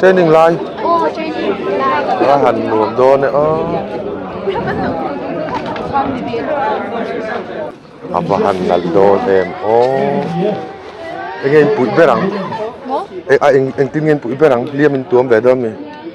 Training lai. Oh, training lai. Ra han nuam dawn e a. A va han lal dawn em o. Enge in puih ber ang. Mo? E a eng eng tin nge in puih ber ang liam in tuam ve dawn mi.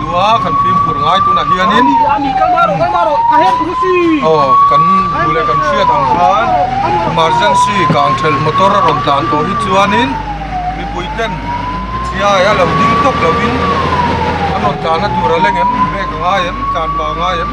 Tua kan fimkhur ngai tunah hianin kan duh leh kan hriat ang khan emergency kang ṭhelh motor a rawn tlan tawh hi chuanin mipui ten chiai a lo ding tawk lovin an rawn tlan a tur a leng em, brake a ngai em, tlanpa a ngai em.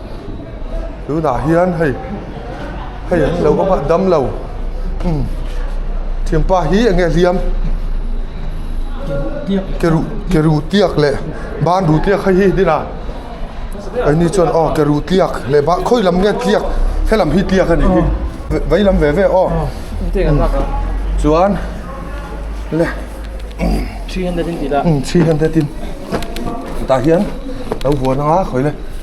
tunah hian hei hei an lo awm a damlo imm thianpa hi eng nge hliam keruh keruh tiak leh banru tiak kha hi hnihna keini chuan aw keruh tiak leh ban khawi lam nge tiak helam hi tiak a nih hi veilam ve ve aw chuan le three hundred in tih la imm three hundred in tah hian lo vuan anga khawih le.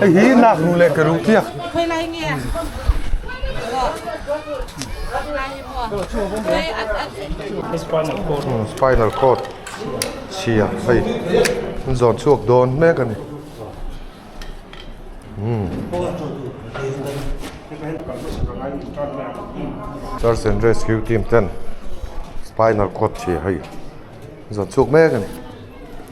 Hei hi lak nu leh ka ruh tiak. Khoi lai nge. Spinal cord. Hmm, spinal cord. Sia, hei. An zawt chhuak dawn mek a ni. Hmm. Search and rescue team ten spinal cord chhia hei. Zawt chhuak mek a ni.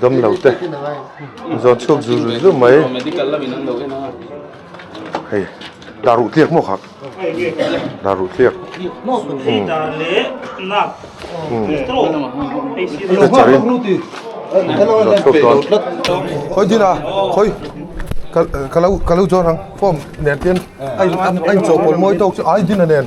Damlo te zawn chhuak zul zul zul mai hei dah ruh tliak mawkha dah ruh tliak khawi dinah khawi ka lo ka lo zawrh ang form nen tih a ni a inchawhpawlh mawi tawk chu ai din a nen.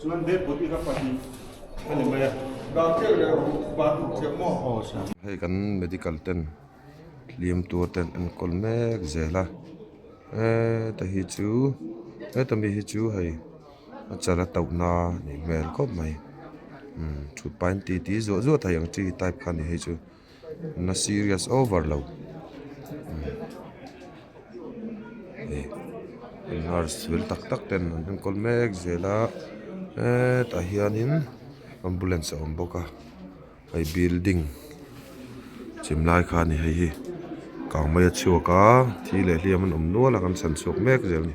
Chuan he put i ka pa tih ka ni mai a. Dang chiah leh ru pa tih chiah maw? Hei kan medical ten hlim tur ten enkawl mek zel a. Heta hi chu heta mi hi chu hei a chal a tauh na a nih hmel khawp mai. Umm thut pain ti ti zuah zuah thei ang chi type kha a ni hei chu. na serious over lo heh nurse vel tak tak ten an enkawl mek zel a hetah hianin ambulance a awm bawk a hei building chhim lai kha a ni hei hi kang mai a chhuak a thi leh hliam an awm nual a kan chhan chhuak mek zel a ni.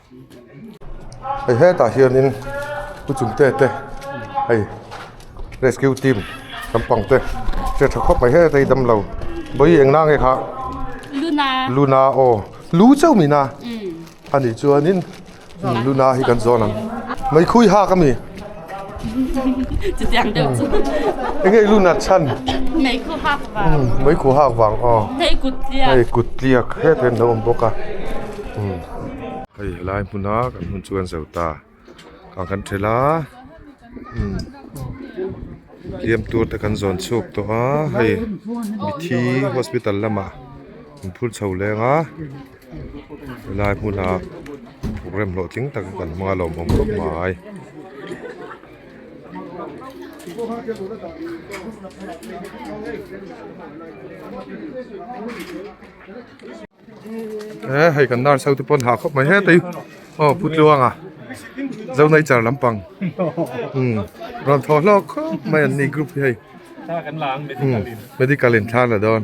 hei hetah hianin lu chhum te te hei rescue team kan pang te hriat tha khawp mai hetah hi damlo bawiin eng nang nge kha luna aw lu chauh min a a nih chuan in luna hi kan zawn ang mai khui hak a mi. Chutiang deuh chu. Engei lu nat chhan. Mei khu hak vang. Mei khu hak vang aw. Hei kut tliak. Hei kut tliak hriat hian lo awm bawk a. Hei helai hmun a kan hmun chu kan zel ta. Khan kan ṭhel a. Heliam tur te kan zawn chhuak tawh a. Hei mithi hospital lamah kan phur chho leng a. Helai hmuna rem hlawh tling tak kan hmang a lawm awm khawp mai. Eee hei kan darso te pawh an ha khawp mai het ai. Aw pu tluang a Zonaichar lampang umm rawn thaw hlawk khawp mai an ni group hi hei. Thla kan la ang medical in. Umm medical in thla an la dawn.